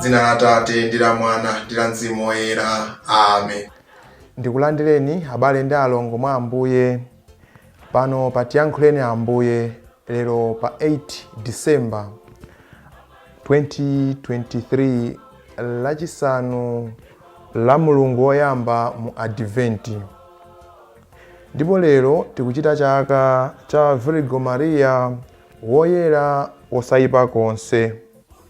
Dzina la Atate, ndi la Mwana, ndi la Mzimu Woyera. Amen. Ndikulandireni, abale ndi alongo mwa Ambuye, pano pa Tiyankhuleni Ambuye, lero pa 8 December 2023, lachisanu la mulungu woyamba mu Adventi. Ndipo lero tikuchita chaka cha Virgo Maria woyera wosayipa konse.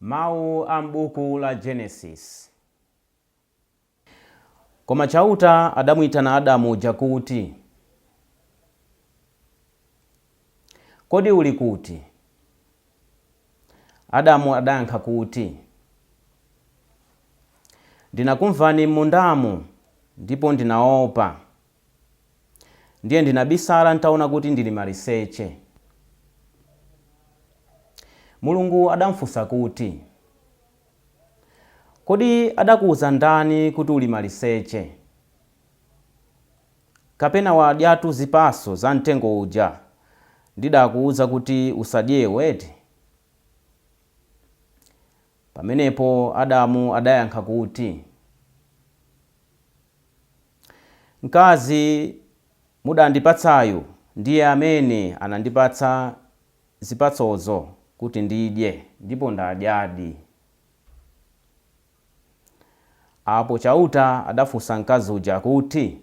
Mau a m'buku la Genesis. Koma Chauta adamuitana Adamu uja kuti, Kodi uli kuti? Adamu adayankha kuti, Ndinakumvani m'mundamu, ndipo ndinaopa. Ndiye ndinabisala n'taona kuti ndili maliseche. Mulungu adamfunsa kuti, Kodi adakuuza ndani kuti uli maliseche? Kapena wadyatu zipatso za mtengo uja ndidakuuza kuti usadye eti? Pamenepo Adamu adayankha kuti. Mkazi mudandipatsayu ndiye amene anandipatsa zipatsozo kuti ndidye, ndipo ndadyadi. Apo Chauta adafunsa mkazi uja kuti,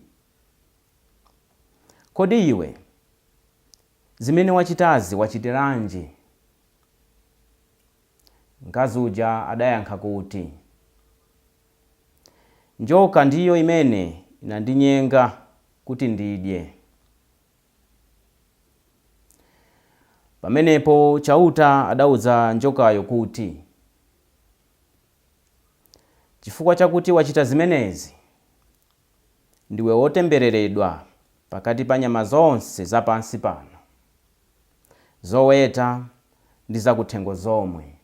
Kodi iwe zimene wachitazi wachitiranji? Mkazi uja adayankha kuti. Njoka ndiyo imene inandinyenga kuti ndidye. Pamenepo Chauta adauza njokayo kuti, Chifukwa chakuti wachita zimenezi, ndiwe wotembereredwa pakati pa nyama zonse za pansi pano, zoweta ndi zakuthengo zomwe.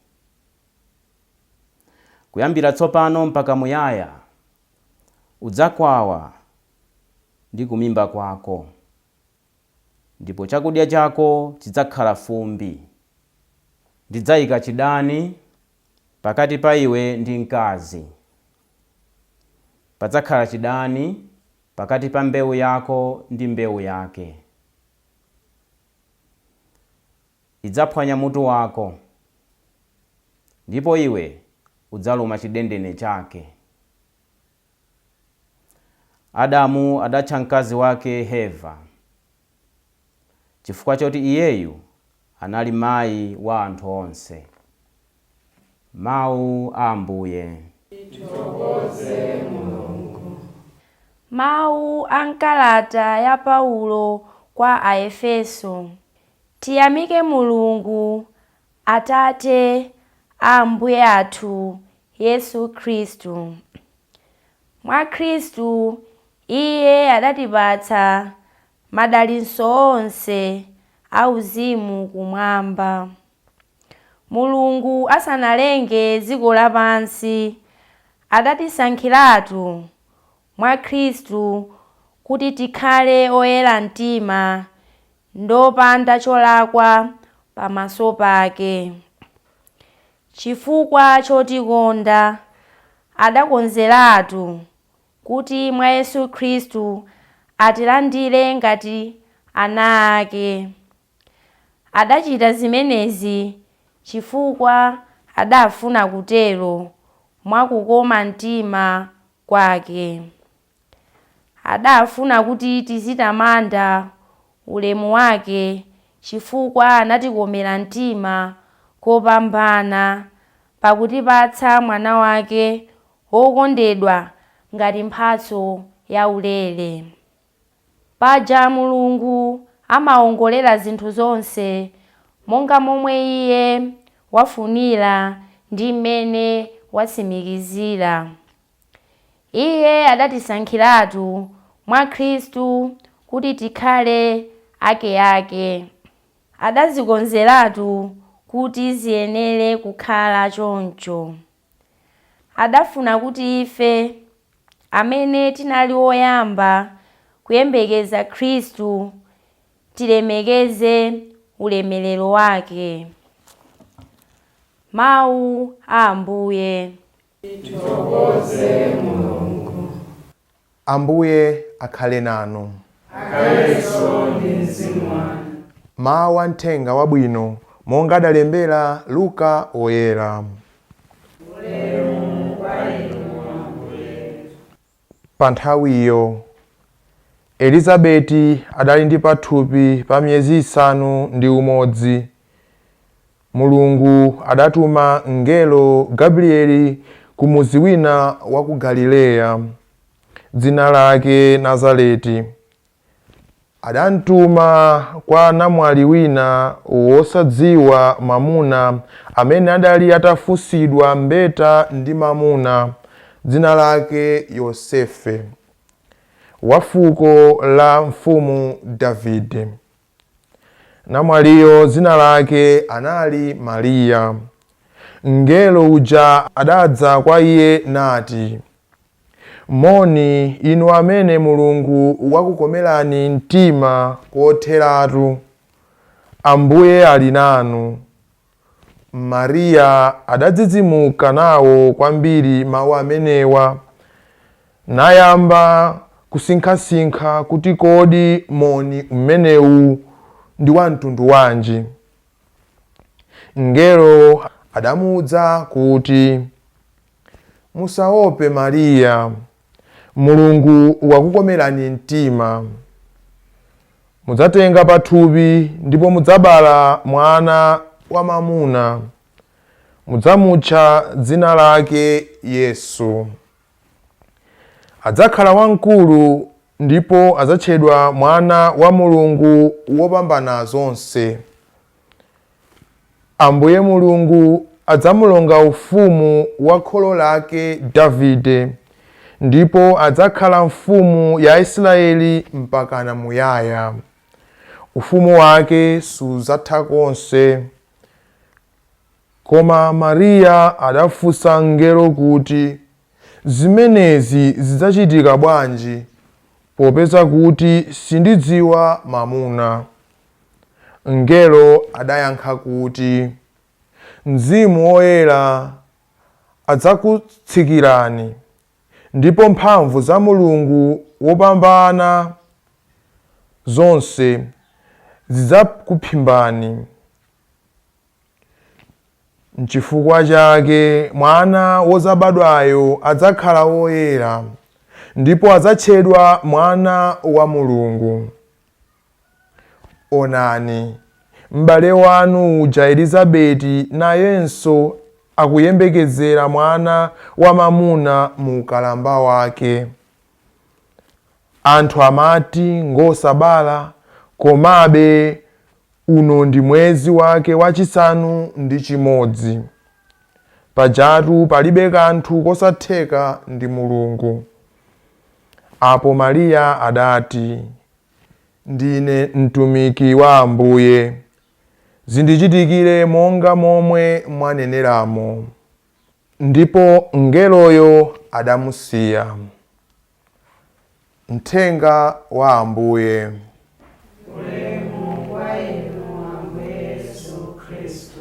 Kuyambira tsopano mpaka muyaya, udzakwawa ndi kumimba kwako, ndipo chakudya chako chidzakhala fumbi. Ndidzaika chidani pakati pa iwe ndi mkazi. Padzakhala chidani pakati pa mbewu yako ndi mbewu yake. idzaphwanya mutu wako, ndipo iwe udzaluma chidendene chake. Adamu adatcha mkazi wake Heva chifukwa choti iyeyu anali mayi wa anthu onse. Mawu a Ambuye. Tithokoze Mulungu. Mawu a m'kalata ya Paulo kwa Aefeso Tiyamike Mulungu, Atate a Ambuye athu Yesu Khristu. Mwa Khristu iye adatipatsa madalitso onse auzimu Kumwamba. Mulungu asanalenge dziko lapansi, adatisankhiratu mwa Khristu kuti tikhale oyera mtima ndopanda cholakwa pamaso pake. Chifukwa chotikonda, adakonzeratu kuti mwa Yesu Khristu atilandire ngati ana ake. Adachita zimenezi chifukwa adafuna kutero mwa kukoma mtima kwake. Adafuna kuti tizitamanda ulemu wake chifukwa anatikomera mtima kopambana pakutipatsa Mwana wake wokondedwa ngati mphatso yaulere. Paja Mulungu amawongolera zinthu zonse monga momwe Iye wafunira ndi m'mene watsimikizira. Iye adatisankhiratu mwa Khristu kuti tikhale akeake. Adazikonzeratu kuti ziyenere kukhala choncho. Adafuna kuti ife, amene tinali oyamba kuyembekeza Khristu, tilemekeze ulemerero wake. Mawu a Ambuye. Tithokoze Mulungu. Ambuye akhale nanu. Akhalenso ndi mzimu wanu. Mawu a Mthenga Wabwino monga adalembera Luka Woyera. Pa nthawiyo, Elizabeti adali ndi pathupi pa miyezi isanu ndi umodzi, Mulungu adatuma mngelo Gabrieli ku mudzi wina wa ku Galileya, dzina lake Nazareti. Adamtuma kwa namwali wina wosadziwa mamuna amene adali atafunsidwa mbeta ndi mamuna, dzina lake Yosefe, wa fuko la mfumu Davide. Namwaliyo dzina lake anali Mariya. Mngelo uja adadza kwa iye nati, Moni, inu amene Mulungu wakukomerani mtima kotheratu! Ambuye ali nanu. Mariya adadzidzimuka nawo kwambiri mawu amenewa, nayamba kusinkhasinkha kuti kodi moni umenewu ndi wa mtundu wanji. Mngelo adamuuza kuti, Musaope Mariya. Mulungu wakukomerani mtima. Mudzatenga pathupi ndipo mudzabala mwana wamamuna. Mudzamutcha dzina lake Yesu. Adzakhala wamkulu ndipo adzatchedwa Mwana wa Mulungu Wopambana Zonse. Ambuye Mulungu adzamulonga ufumu wa kholo lake Davide, ndipo adzakhala mfumu ya Aisiraeli mpakana muyaya. Ufumu wake siudzatha konse. Koma Mariya adafunsa mngelo kuti, Zimenezi zidzachitika bwanji, popeza kuti sindidziwa mamuna? Mngelo adayankha kuti, Mzimu Woyera adzakutsikirani, ndipo mphamvu za Mulungu wopambana zonse zidzakuphimbani. Nchifukwa chake Mwana wodzabadwayo adzakhala woyera, ndipo adzatchedwa Mwana wa Mulungu. Onani, m'bale wanu uja Elizabeti nayenso akuyembekezera mwana wamamuna mu ukalamba wake. Anthu amati ngosabala, komabe uno ndi mwezi wake wachisanu ndi chimodzi. Pajatu palibe kanthu kosatheka ndi Mulungu. Apo Mariya adati, Ndine mtumiki wa Ambuye, zindichitikire monga momwe mwaneneramo. Ndipo mngeloyo adamusiya. Mthenga wa Ambuye. Ulemu kwa Inu, Ambuye Yesu Khristu.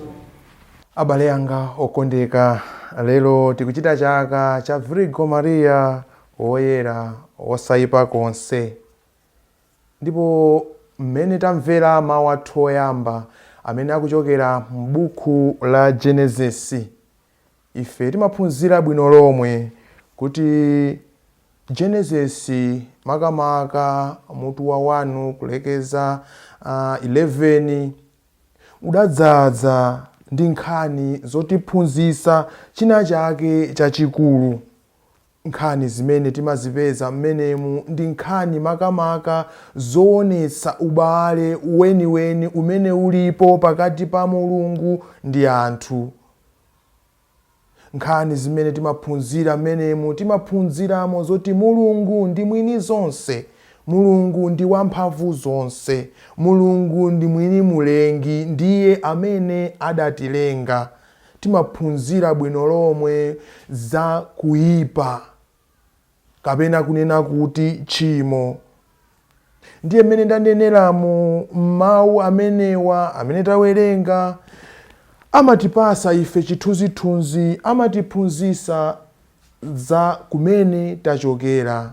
Abale anga okondeka, lero tikuchita chaka cha Virigo Maria Woyera wosayipa konse. Ndipo mmene tamvera mawu athu oyamba amene akuchokera m'buku la Genesis, Ife timaphunzira bwino lomwe kuti Genesis, makamaka mutu wa 1 kulekeza 11, udadzadza ndi nkhani zotiphunzitsa china chake chachikulu. Nkhani zimene timazipeza mmenemu ndi nkhani makamaka zoonetsa ubale weniweni umene ulipo pakati pa Mulungu ndi anthu. Nkhani zimene timaphunzira mmenemu, timaphunziramo zoti Mulungu ndi mwini zonse, Mulungu ndi wamphamvu zonse, Mulungu ndi mwini Mulengi, ndiye amene adatilenga. timaphunzira bwino lomwe za kuipa kapena kunena kuti tchimo. Ndiye mmene ndanenera mu mawu amenewa amene tawerenga amatipasa ife chithunzithunzi, amatiphunzisa za kumene tachokera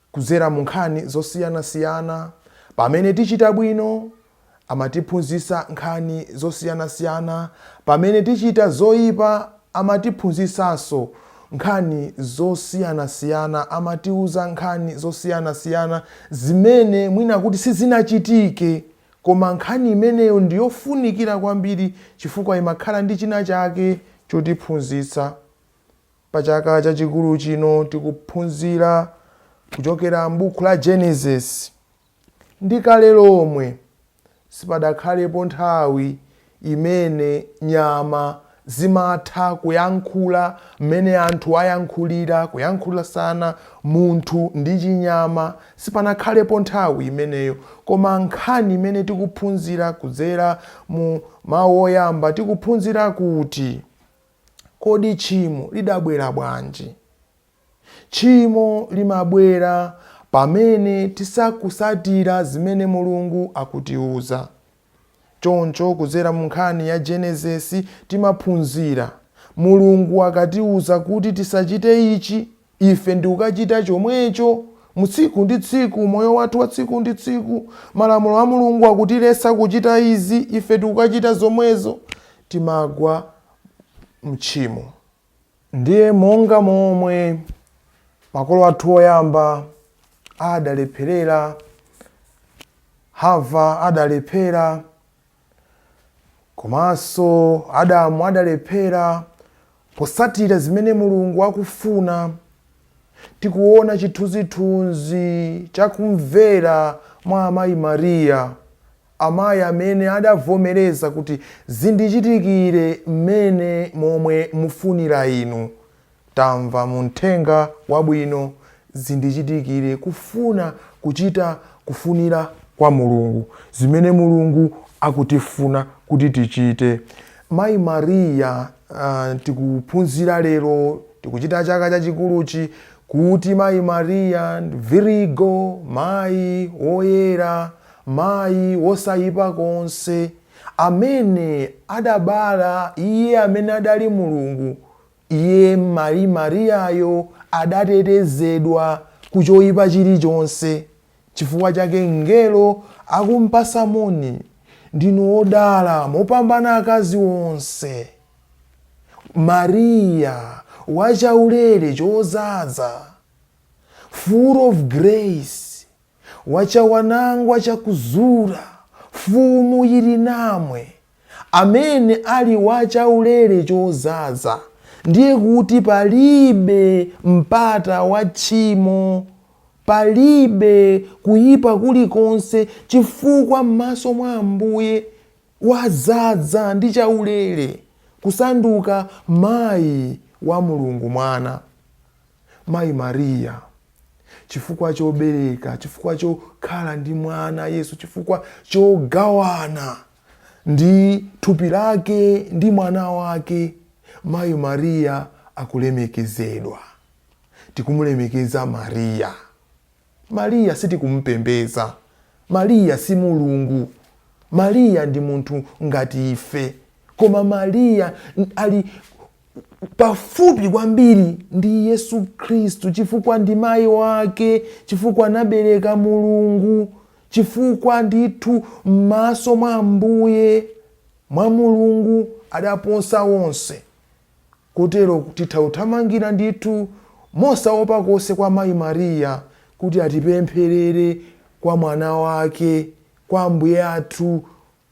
Kudzera mu nkhani zosiyanasiyana, Pamene tichita bwino, amatiphunzitsa nkhani zosiyanasiyana, pamene tichita zoipa, amatiphunzitsanso nkhani zosiyanasiyana, amatiuza nkhani zosiyanasiyana zimene mwina kuti sizinachitike koma nkhani imeneyo ndiyofunikira kwambiri chifukwa imakhala ndi china chake chotiphunzitsa. Pa chaka chachikulu chino tikuphunzira kuchokera m'buku la Genesis. Ndi kale lomwe, sipadakhalepo nthawi imene nyama zimatha kuyankhula mmene anthu ayankhulira, kuyankhulasana munthu ndi chinyama, sipanakhalepo nthawi imeneyo. Koma nkhani imene tikuphunzira kudzera mu mawu oyamba, tikuphunzira kuti. Kodi tchimo lidabwera bwanji? Tchimo limabwera pamene tisakusatira zimene Mulungu akutiuza. Choncho kudzera mu nkhani ya Genesis timaphunzira, Mulungu akatiuza kuti tisachite ichi, ife ndikukachita chomwecho, mu tsiku ndi tsiku, moyo wathu wa tsiku ndi tsiku. Malamulo a Mulungu akutiletsa kuchita izi, ife tikukachita zomwezo, timagwa mtchimo. Ndiye monga momwe makolo athu oyamba adalepherera, Hava adalephera, Komanso Adamu adalephera posatira zimene Mulungu akufuna. Tikuona chithunzithunzi cha kumvera mwa Amayi Maria, amayi amene adavomereza kuti, Zindichitikire mmene momwe mufunira Inu. Tamva mu Mthenga Wabwino zindichitikire kufuna kuchita kufunira kwa Mulungu, zimene Mulungu akutifuna kuti tichite. Mayi Maria, tikuphunzira lero, tikuchita chaka chachikuluchi, kuti Mayi Maria Virigo, Mayi Woyera, Mayi wosayipa konse, amene adabala Iye amene adali Mulungu, Iye, Mayi Mariyayo, adatetezedwa ku choipa chilichonse. Chifukwa chake mngelo akumpasa moni, Ndinu odala mopambana akazi onse. Mariya, wa chaulere chozaza, full of grace, wa chawanangwa chakuzura, Fumu yili namwe. amene ali wa chaulere chozaza, ndiye kuti palibe mpata wa tchimo, palibe kuyipa kulikonse chifukwa m'maso mwa Ambuye wazaza ndi chaulere kusanduka mayi wa Mulungu Mwana. Mayi Mariya, chifukwa chobereka, chifukwa chokhala ndi mwana Yesu, chifukwa chogawana. ndi thupi lake ndi mwana wake, mayi Mariya akulemekezedwa. Tikumulemekeza Mariya. Mariya sitikumpembeza. Mariya si Mulungu. Mariya ndi munthu ngati ife. Koma Mariya ali pafupi kwambiri ndi Yesu Khristu chifukwa ndi mayi wake, chifukwa anabereka Mulungu. Chifukwa ndithu m'maso mwa Ambuye, mwa Mulungu, adaposa wonse, kotero, titha kuthamangira ndithu mosaopa konse kwa Mayi Maria kuti atipempherere kwa Mwana wake, kwa Ambuye athu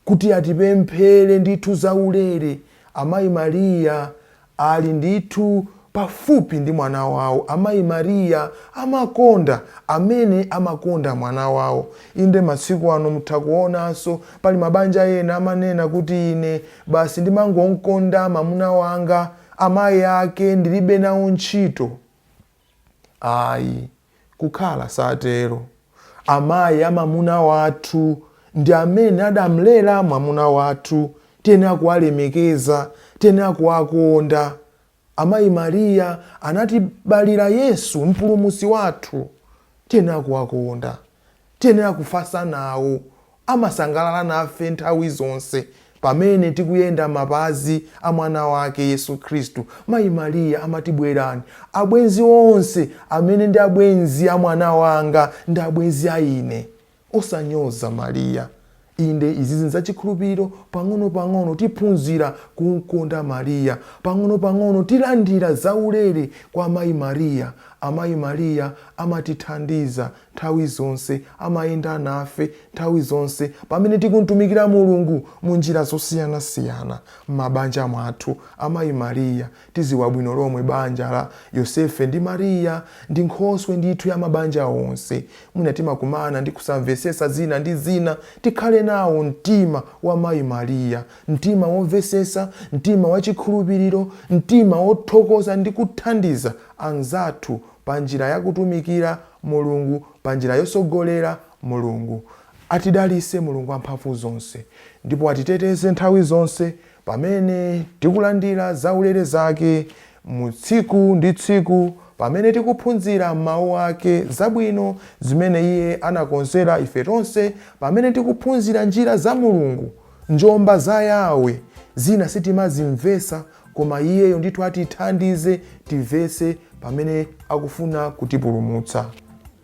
kuti atipemphere ndithu zaulere, Amayi Maria ali ndithu pafupi ndi mwana wawo, Amayi Maria amakonda amene amakonda mwana wawo. Inde masiku ano mutha kuonanso pali mabanja ena amanena kuti ine basi ndimangomkonda mamuna wanga, amayi ake ndilibe nawo ntchito. Ayi, kukhala satero. Amayi a mamuna wathu ndi amene adamlera mwamuna wathu. Tiyenera kuwalemekeza. Tiyenera kuwakonda. Amayi Maria anatibalira Yesu, Mpulumutsi wathu. Tiyenera kuwakonda. Tiyenera kufatsa nawo. Amasangalala nafe nthawi zonse pamene tikuyenda mapazi a Mwana wake, Yesu Kristu. Mayi Mariya amati, Bwerani, abwenzi onse amene ndi abwenzi a mwana wanga ndi abwenzi a ine. Osanyoza Mariya. Inde, izizi nzachikhulupiriro, pang'ono pang'ono tiphunzira kumkonda Maria, pang'ono pang'ono tilandira zaulere kwa Mayi Maria, Amayi Maria amatithandiza nthawi zonse, amayenda nafe nthawi zonse pamene tikumtumikira Mulungu munjira zosiyanasiyana m'mabanja mwathu, Amayi Maria Tidziwa bwino lomwe banja la Yosefe ndi Mariya ndi nkhoswe ndithu ya mabanja onse. Mwina timakumana ndi kusamvetsetsa zina ndi zina, tikhale nawo mtima wa Mayi Mariya, mtima womvetsetsa, mtima wa chikhulupiriro, mtima wothokoza ndi kuthandiza anzathu pa njira ya kutumikira Mulungu, pa njira yotsogolera. Mulungu atidalitse, Mulungu amphamvu zonse, ndipo atiteteze nthawi zonse Pamene tikulandira zaulere zake mu tsiku ndi tsiku, pamene tikuphunzira mawu ake zabwino zimene iye anakonzera ife tonse, pamene tikuphunzira njira za Mulungu, njomba za Yahweh, zina sitimazimvetsa koma iyeyo ndithu atithandize timvetse pamene akufuna kutipulumutsa.